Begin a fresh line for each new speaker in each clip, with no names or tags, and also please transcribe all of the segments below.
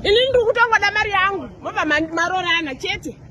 Ini ndiri kutongoda mari yangu mobva marorana chete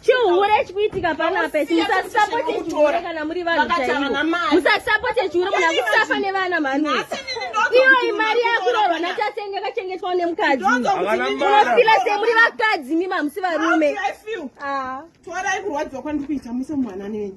chihure chikuitika pano apesi musasapote chihure kana muri vanhu chaivo musasapote chihure muna kusafa nevana mhani iyo imari yakurorwa natasenge yakachengetwa nemukadzi unofila semuri vakadzi mima musi varume ah.
torai kurwadziwa kwandikuita muse mwana nenyu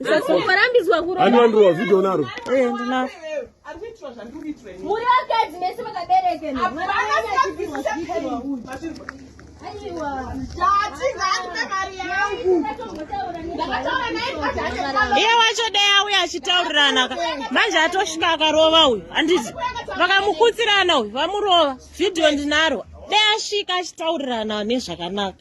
Usarambidzwa kuromba. Ani wandirova
video naro. Eh ndina.
Muri
vakadzi mese vakabereka. Iye wacho dai auya achitaurirana ka manje atosvika akarova uyu handiti vakamukutsirana uyu vamurova vhidhiyo ndinaro dai asvika achitaurirana nezvakanaka